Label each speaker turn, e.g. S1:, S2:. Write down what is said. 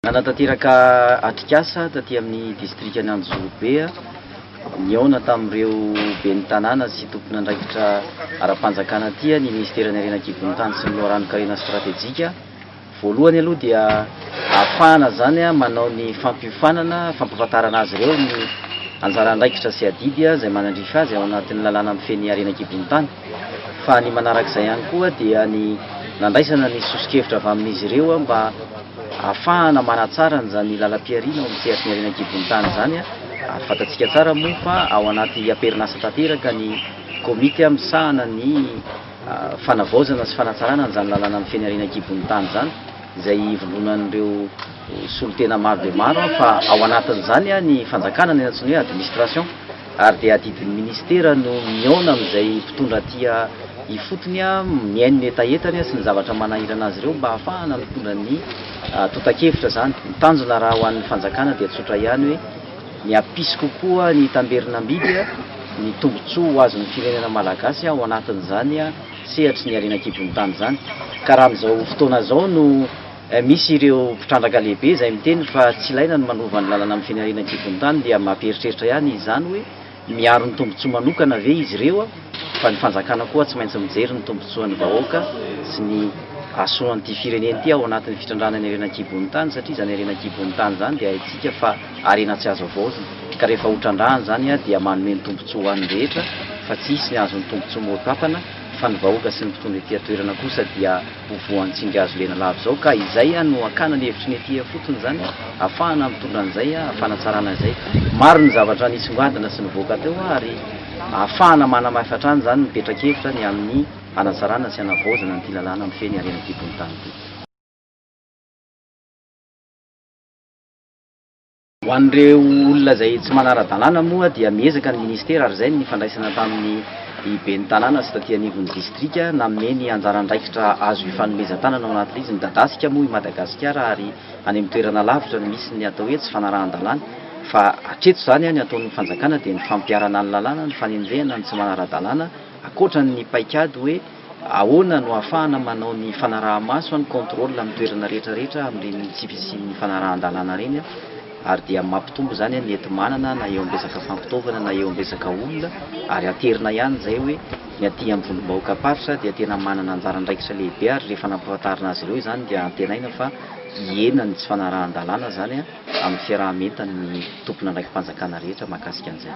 S1: Nanatanteraka atrikasa taty amin'ny distrikan'i Anjozorobe nihaona tamin'ireo ben'ny tanàna sy tompon'andraikitra ara-panjakana aty ny minisiteran'ny Harena an-kibon'ny tany sy ny loharanon-karena stratejika, Voalohany aloha dia ahafahana izany manao ny fampiofanana, fampahafantarana azy ireo ny anjara andraikitra sy adidy izay manandrify azy ao anatin'ny lalàna mifehy ny harena an-kibon'ny tany. Fa ny manarak'izay ihany koa dia ny nandraisana ny soso-kevitra avy amin'izy ireo mba ahafahana manatsara an'izany lalam-pihariana ao amin'ny sehatry ny harena an-kibon'ny tany izany ary fantatsika tsara moa fa ao anaty amperin'asa tanteraka ny komity misahana ny fanavaozana sy fanatsarana an'izany lalana mifehy ny harena an-kibon'ny tany izany, izay ivondronan'ireo solontena maro dia maro fa ao anatin'izany ny fanjakana, ny antsoina hoe administration, ary dia adidin'ny minisitera no mihaona amin'izay mpitondra tia ifotony mihaino ny hetahetany sy ny zavatra manahirana azy ireo mba hahafahana mitondra ny tontakevitra izany. Ny tanjona raha ho an'ny fanjakana dia tsotra ihany hoe. Ny hampisy kokoa ny tamberin'ambidy, ny tombontsoa ho azon'ny firenena malagasy ao anatin'izany sehatry ny harena an-kibon'ny tany izany. Ka raha amin'izao fotoana izao no misy ireo mpitrandraka lehibe izay miteny fa tsy ilaina ny manova ny lalana amin'ny fen'ny harena an-kibon'ny tany dia mampieritreritra ihany izany hoe, Miaro ny tombontsoa manokana ve izy ireo fa ny fanjakana koa tsy maintsy mijery ny tombontsoan'ny vahoaka sy ny hasoan'ity firenena ity ao anatin'ny fitrandrahana ny harena an-kibon'ny tany satria izany harena an-kibon'ny tany izany dia haintsika fa harena tsy azo avaozina ka rehefa hotrandrahana izany dia manome ny tombontsoa ho an'ny rehetra fa tsy hisy ny azon'ny tombontsoa motapana fa ny vahoaka sy ny mpitondra ety an-toerana kosa dia ho voan'ny tsingazo lena lava izao ka izay no hakana ny hevitry ny ety ifotony izany hafahana mitondra an'izay fanatsarana izay. Maro ny zavatra nisongadina sy nivoaka teo ary hafahana manamafy hatrany izany ny petra-kevitra ny amin'ny hanatsarana sy hanavaozana an'ity lalàna mifehy ny harena ity bontany ity. Ho an'ireo olona izay tsy manara-dalàna moa dia miezaka ny Ministera ary izay ny nifandraisana tamin'ny Ben'ny Tanàna sy taty anivon'ny Distrika nanome ny anjara andraikitra azo hifanomezan-tanana ao anatin'izy. Midadasika moa i Madagasikara ary any amin'ny toerana lavitra no misy ny atao hoe tsy fanarahan-dalàna fa hatreto izany ny ataon'ny Fanjakana dia ny fampiharana ny lalàna, ny fanenjehana ny tsy manara-dalàna ankoatra ny paikady hoe Ahoana no ahafahana manao ny fanaraha-maso, ny contrôle, amin'ny toerana rehetra rehetra amin'ireny tsy fisian'ny fanarahan-dalàna ireny ary dia mampitombo izany ny enti-manana na eo amin'ny resaka fampitaovana na eo amin'ny resaka olona ary aterina ihany izay hoe ny aty amin'ny vondrom-bahoakam-paritra dia tena manana anjara andraikitra lehibe ary rehefa nampahafantarina azy ireo izany dia antenaina fa hihena ny tsy fanarahan-dalàna izany amin'ny fiaraha-mientan'ny tompon'andraiki-panjakana rehetra mahakasika an'izay.